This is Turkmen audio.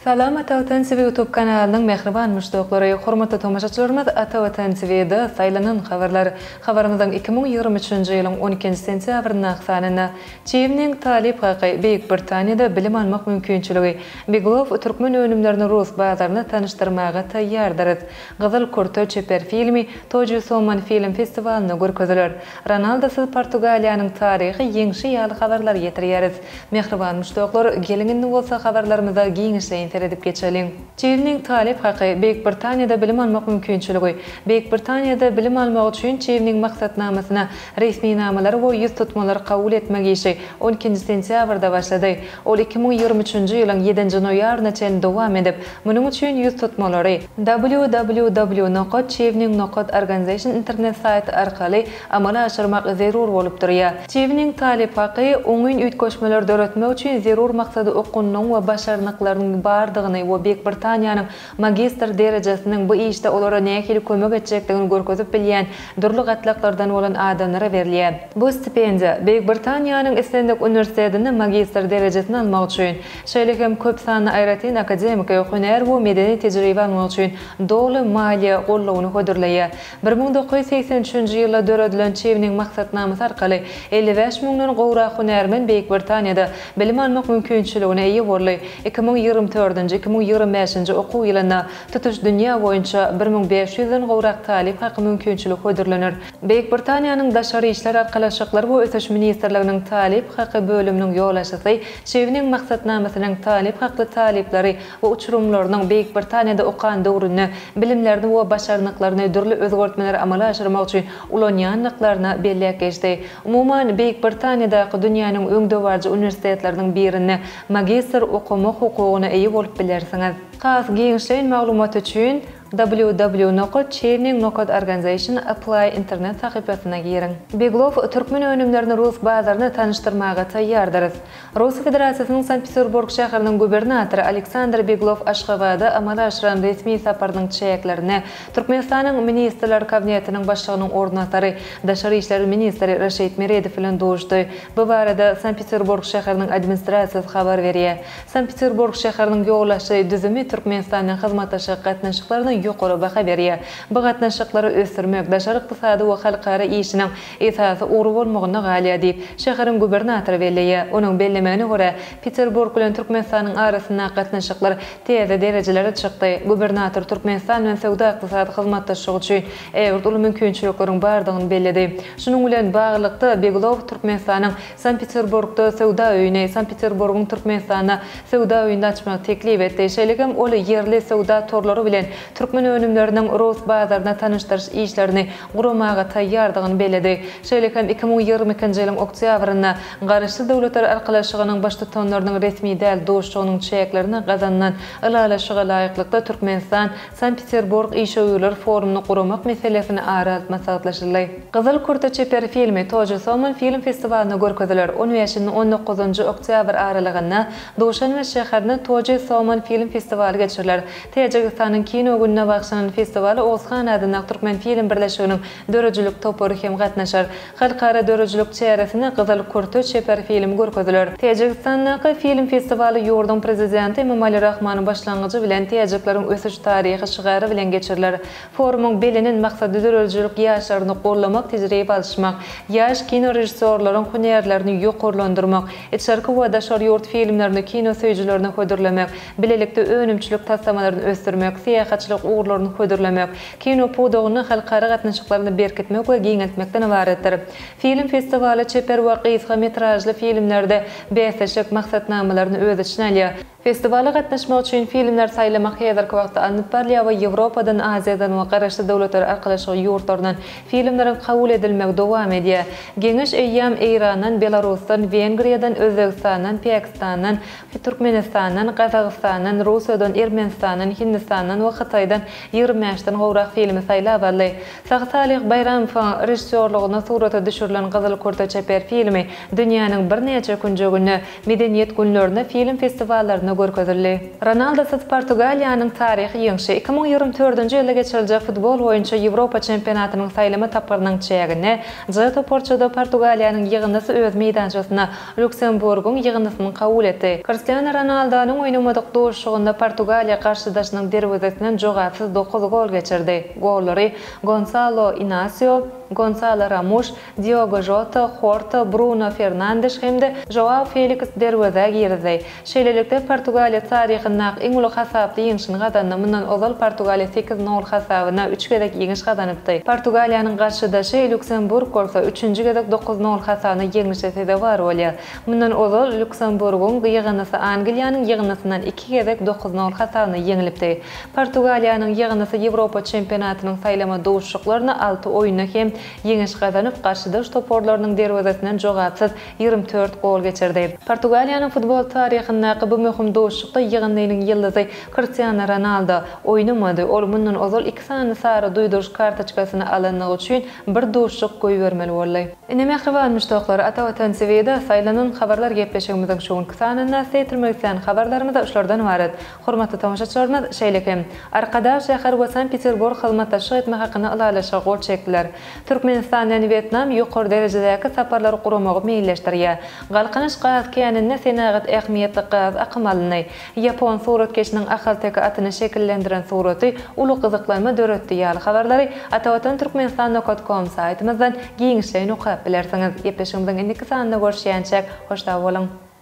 Salam Atavatan TV ýutub kanalynyň mähriban muşdaklary, hormatly tomaşaçylarymyz Ata Watan TV da saýlanan habarlar. Habarymyzyň iki müň ýigrimi üçünji ýylyň on ikinji sentýabryndaky sanynda Çiwniň talyp haky, Beýik Britaniýada bilim almak mümkinçiligi, Biglow türkmen önümlerini rus bazaryna tanyşdyrmaga taýýardyrys. Gyzyl kürte çeper filmi Toju Soman film festiwalynda görkeziler. Ronaldosyz Portugaliýanyň taryhy ýeňşi ýaly habarlar getirýäris. Mähriban muşdaklar, geliň indi bolsa habarlarymyza giňişleýin seredip geçeliň. Çiwniň talyp haky, Beýik Britaniýada bilim almak mümkinçiligi. Beýik Britaniýada bilim almak üçin Çiwniň maksatnamasyna resminamalary we ýüztutmalary kabul etmek işi on ikinji sentýabrda başlady. Ol iki müň ýigrimi üçünji ýylyň ýedinji noýabryna çenli dowam edip, Munuň üçin ýüz tutmalary, www nokat Çiwniň nokat Organization internet saýty arkaly amala aşyrmak zerur bolup durýar. Çiwniň talyp haky, oňyn üýtgeşmeler döretmek üçin zerur maksady okunynyň we başarnyklarynyň bardygyny we Beýik Britaniýanyň magistr derejesiniň bu işde olara nähili kömek etjekdigini görkezip bilýän dürli gatlaklardan bolan adamlara berilýär. Bu stipendiýa, Beýik Britaniýanyň islendik uniwersitetinde magistr derejesini almak üçin, şeýle hem köp sanly aýratyn akademik, hünär we medeni tejribe almak üçin doly maliýe goldawyny hödürleýär. Bir müň dokuz ýüz segsen üçünji ýylda döredilen Çewniň maksatnamasy arkaly elli bäş müňden gowrak hünärmen Beýik Britaniýada bilim almak mümkinçiligine eýe boldy, iki müň ýigrimi dördünji, iki müň ýigrimi bäşinji okuw ýylynda tutuş dünýä boýunça bir müň bäş ýüzden gowrak talyp haky mümkinçiligi hödürlener. Beýik Britaniýanyň Daşary işler arkalaşyklary we ösüş ministrliginiň Talyp haky bölüminiň ýolbaşçysy Çewniň maksatnamasynyň talyp hakly talyplary we uçurymlarynyň Beýik Britaniýada okan döwründe bilimlerini we başarnyklaryny dürli özgertmeleri amala aşyrmak üçin ulanýandyklaryna belläp geçdi. Umuman, Beýik Britaniýadaky dünýäniň öňdebaryjy uniwersitetleriniň birinde magistr okamak hukugyna eýe bolup bilersiňiz. Has giňişleýin maglumat üçin. www.chaining.organization apply internet sahypasyna giriň. Beglow, Türkmen önümlerini rus bazaryna tanyşdyrmaga taýýardyrys. Russiýa Federasiýasynyň Sankt-Peterburg şäheriniň gubernatory Aleksandr Beglow Aşgabada amala aşyran resmi saparynyň çäklerinde Türkmenistanyň Ministrler Kabinetiniň Başlygynyň orunbasary, daşary işler ministri Reşid Meredow bilen duşdy. Bu barada Sankt-Peterburg şäheriniň administrasiýasy habar berýär. Sankt-Peterburg şäheriniň ýolbaşçy düzümi Türkmenistan bilen hyzmatdaşlyk gatnaşyklaryna ýokary baha berýär. Bu gatnaşyklary ösdürmek daşary ykdysady we halkara işiniň esasy ugry bolmagynda galýar diýip, şäheriň gubernatory belleýär. Onuň bellemegine görä, Peterburg bilen Türkmenistanyň arasyndaky gatnaşyklar täze derejelere çykdy. Gubernator Türkmenistan bilen söwda-ykdysady hyzmatdaşlyk üçin ägirt uly mümkinçilikleriň bardygyny belledi. Şunuň bilen baglylykda, Begulow Türkmenistanyň Sankt-Peterburgda söwda öýüni, Sankt-Peterburgyň Türkmenistanda söwda öýüni açmagy teklip etdi. Şeýlekem ol ýerli söwda torlary bilen türkmen önümleriniň rus bazaryna tanyşdyryş işlerini guramaga taýýardygyny belledi. Şeýle hem iki müň ýigrimi ikinji ýylyň oktýabrynda Garaşsyz Döwletler Arkalaşygynyň baştutanlarynyň resmi däl duşugynyň çäklerinde gazanylan ylalaşyga laýyklykda Türkmenistan Sankt-Peterburg işewürler forumyny guramak meselesini ara alyp maslahatlaşyldy. Gyzyl kürte çeper filmi Tojo Somon film festiwalynda görkeziler, on bäşini on dokuzynjy oktýabr aralygynda Duşanbe şäherinde Tojo Somon film festiwaly geçiriler. Täjigistanyň Kino gününe bagyşlanan festiwala Oguzhan adyndaky Türkmenfilm birleşiginiň döredijilik topary hem gatnaşar. Halkara döredijilik çäresinde Gyzyl kürte çeper filmi görkeziler. Täjigistandaky film festiwaly ýurduň Prezidenti Emomali Rahmanyň başlangyjy bilen Täjikleriň ösüş taryhy şygary bilen geçiriler. Forumyň belenen maksady döredijilik ýaşlaryny goldamak, tejribe alyşmak, ýaş kinorežissýorlaryň hünärlerini ýokarlandyrmak, içerki we daşary ýurt filmlerini kino söýüjilerine hödürlemek, bilelikde önümçilik taslamalaryny ösdürmek, syýahatçylyk ugurlaryny hödürlemek, Kino pudagyny halkara gatnaşyklaryny berkitmek we giňeltmekden ybaratdyr. Film festiwaly çeper we gysga metražly filmlerde bäsleşik maksatnamalaryny öz içine alýar. Festiwala gatnaşmak üçin filmler saýlamak häzirki wagtda alnyp barylýar we Ýewropadan, Aziýadan we Garaşsyz Döwletler Arkalaşygy ýurtlaryndan filmleriň kabul edilmegi dowam edýär. Geňeş eýýäm Eýrandan, Belarusdan, Wengriýadan, Özbegistandan, Päkistandan, Türkmenistandan, Gazagystandan, Russiýadan, Ermenistandan, Hindistandan we Hytaýdan ýigrimi bäşden gowrak filmi saýlap aldy. Sahy Salyh Baýramowyň režissýorlygynda surata düşürilen Gyzyl kürte çeper filmi dünýäniň birnäçe künjeginde, Medeniýet günlerinde, film festiwallarynda görkezildi. Ronaldusyz Portugaliýanyň taryhy ýeňşi, iki müň ýigrimi dördünji ýylda geçiriljek futbol boýunça Ýewropa çempionatynyň saýlama tapgyrynyň çäginde, J toparçada Portugaliýanyň ýygyndysy öz meýdançasyna Lýuksemburgyň ýygyndysynyň kabul etdi. Kriştianu Ronaldonyň oýnamadyk duşuşygynda Portugaliýa garşydaşynyň derwezesinden jogapsyz dokuz gol geçirdi. Gollary Gonsalo Inasio, Gonsalo Ramuş, Diogo Žota, Horta, Bruno Fernandeş hem-de Žoao Feliks derwezä girizdi. Şeýlelikde, Portugaliýa taryhyndaky iň uly hasaply ýeňşini gazandy. Mundan ozal Portugaliýa sekiz nol hasabyna üç gezek ýeňiş gazanypdy. Portugaliýanyň garşydaşy Lýuksemburg bolsa, üçünji gezek dokuz nol hasabyna ýeňlişe sezewar bolýar. Mundan ozal Lýuksemburgyň ýygyndysy Angliýanyň ýygyndysyndan iki gezek dokuz nol hasabyna ýeňlipdi. Portugaliýanyň ýygyndysy Ýewropa çempionatynyň saýlama duşuşyklarynda alty oýunda hem ýeňiş gazanyp, garşydaş toparlarynyň derwezesinden jogapsyz ýigrimi dört gol geçirdi. Portugaliýanyň futbol taryhyndaky bu möhüm duşuşykda ýygyndynyň ýyldyzy Kristiano Ronaldo oýnamady, ol mundan ozal iki sany sary duýduryş kartoçkasyny alandygy üçin bir duşuşyk goýbermeli boldy. Ine, mähriban muşdaklar, Ata Watan TV-de saýlanan habarlar gepleşigimiziň şu günki sanynda size ýetirmek islän habarlarymyz şulardan ybarat. Hormatly tomaşaçylarymyz, şeýle hem, Arkadag şäher we Sankt-Peterburg hyzmatdaşlyk etmek hakynda ylalaşyga gol çekdiler. Türkmenistan bilen Wýetnam ýokary derejedäki saparlary guramagy meýilleşdirýär. Galkynyş gaz käninde senagat ähmiýetli gaz akymy alyndy. Ýapon suratkeşiniň ahalteke atyny şekillendiren suraty uly gyzyklanma döretdi ýaly habarlary Atavatan Türkmenistan nokat kom saýtymyzdan giňişleýin okap bilersiňiz. Gepleşigimiziň indiki sanynda görüşýänçäk, hoş sag boluň!